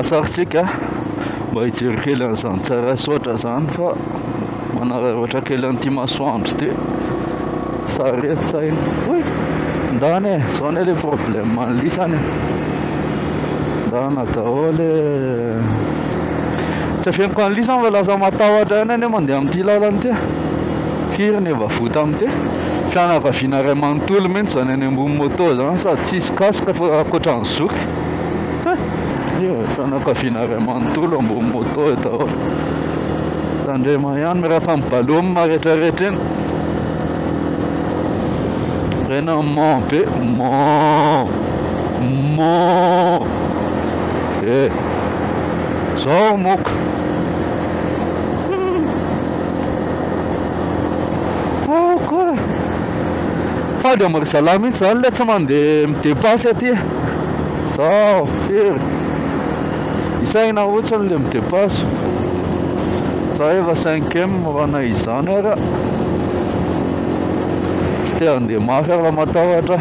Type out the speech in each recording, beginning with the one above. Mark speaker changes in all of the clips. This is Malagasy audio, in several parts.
Speaker 1: Asarintsika mba hijery kely an'izany Tsarasaotra izany fa manararaotra kely an'ity masoandro ity. Sary eto saina. Oy! Ndana e, izao anie le problème an'lisany. Ndana daholo e. Tsy avy any lisany fa lasa matahotra ihany anie mandeha amin'ity lalana ity ah! Firy ny efa voa tamin'ity? Fianakaviana iray manontolo mihitsy izany any ambony moto izany sady tsy hisy casque fa ankoatra ny zoky. Fianakaviana iray manontolo ambony moto eo daholo. Tandrema ihany miaraka amin'ny ballon retraretra iny. Tena mò be, mò, mò. Eh! Zao moka. Oko. Fady am ry zalahy mihitsy zany le tsy mandeha mi-depasy aty. Zao firy. Isaina hotsiny le mi-depasy. Za efa 5M raha na izany ara. Tsy te handeha mafy ara matahotra.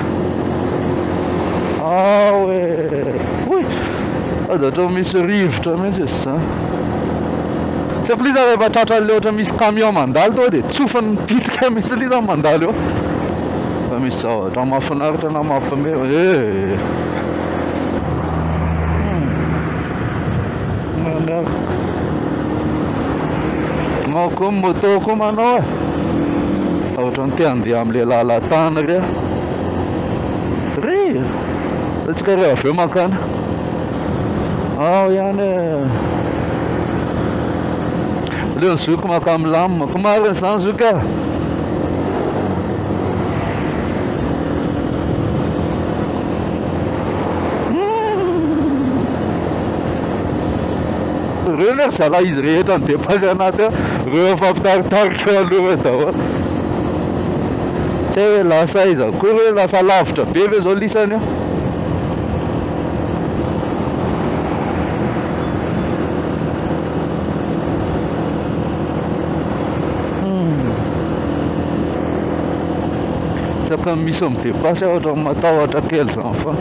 Speaker 1: Ah ouais. Sady ohatran'ny misy rivotra mihitsy izy izany. Tsy plus za rehefa tratra an'ilay ohatran'ny misy camion mandalo tonga dia tsofiny mipitika mihitsy ilay izy zany mandalo eo. Fa misy zavatra mahafinaritra na mampame eh. Mandrava. Nao koa ny moto koa manao eh. Ohatran'ny te handeha amin'ilay lalan-tany re. Re. Hetsika re avy eo mankana ao ihany e Leo ny zoky maka milamina Ko marina izany zoky ah Reo le zala izy rehetra ny depasy anaty ao Reo efa mpitaritarika aloha daholo Tsy hay hoe lasa aiza koa ve, lasa lavitra be ve zao lisany io? isaka misy midepasy aho ohatran'ny matahotra kely izany fa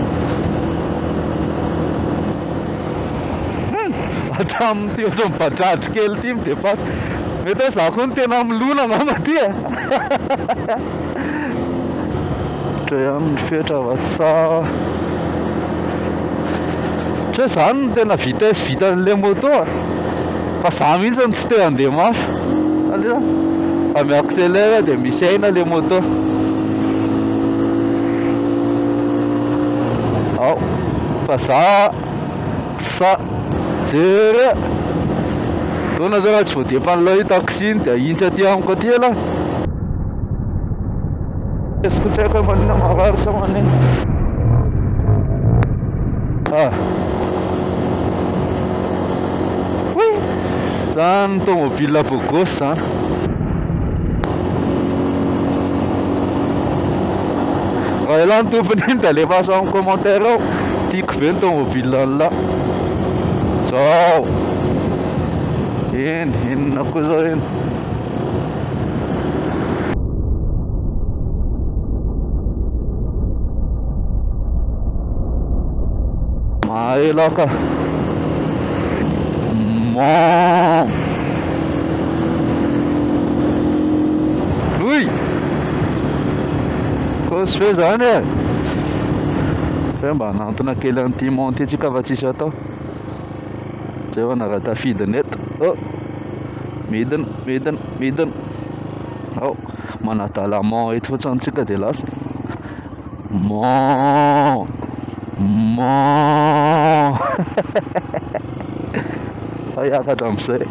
Speaker 1: hatramin'ity ohatran'ny bajaj kely ity midepasy mety hoe za koa no tena milona angamba ty e Dre aminy fetra va sa. Ohatry hoe zany no tena vitesse vitan'ilay moto a. Fa za mihitsy no tsy te handeha mafy. Aleo fa mi-accélère dia misy aina ilay moto. Ao fa za Sa jereo eh! Taona zao raha tsy voadepan'ilay io taxi iny dia hintsy aty amiko aty ialahy! Tsy haiko hoe maninona marary sa maninona ah. oui zany tomobile beau gosse zany raha ialahy ny tompony iny dia alefaso amin'ny commentaire ao Tiako be ny tômôbila an'lah Zao Eny, inona koa zao eny Mahay lah ka Mom Ouy Kôsy be zany e Fa hoe mba hanantona kely an'ity monty ity tsika fa tsisy atao Zay vao nara tafidina eto Oh Midina midina midina Ao Manadala mon eto fotsiny tsika dia lasa Mon Mon Fa hiakatra amin'izay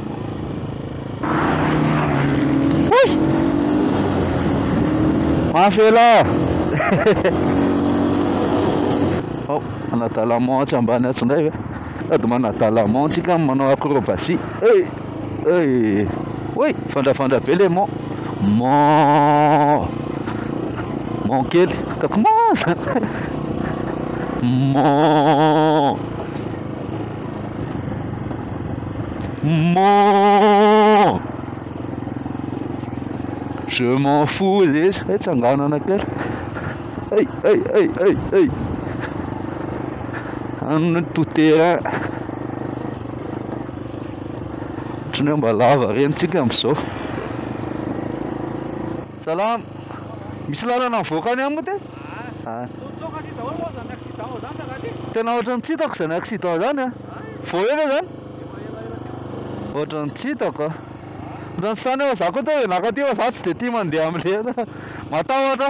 Speaker 1: Avela! Ao, manadala mantsy ambany atsy indray ve? Sady manadala mantsy ka manao acrobatie. Hey! Hey! Oy! Vandravandra be le mon. Mon. Mon kely. Ataoko mon zany. Mon. Mon Je m'en fous les Hey tsanganana kely Hey hey hey hey hey Anona to terrain Ohatran'ny hoe mba lava rentsika amin'izao Salama. Misy lalana mivoaka any amiko ty. Tena ohatrany tsy hitako izany accident zany a. Vao ela zany. Ohatrany tsy hitako a. Ohatrany sany aho za koa te hianaka aty fa za tsy de tia mandeha amle matahotra.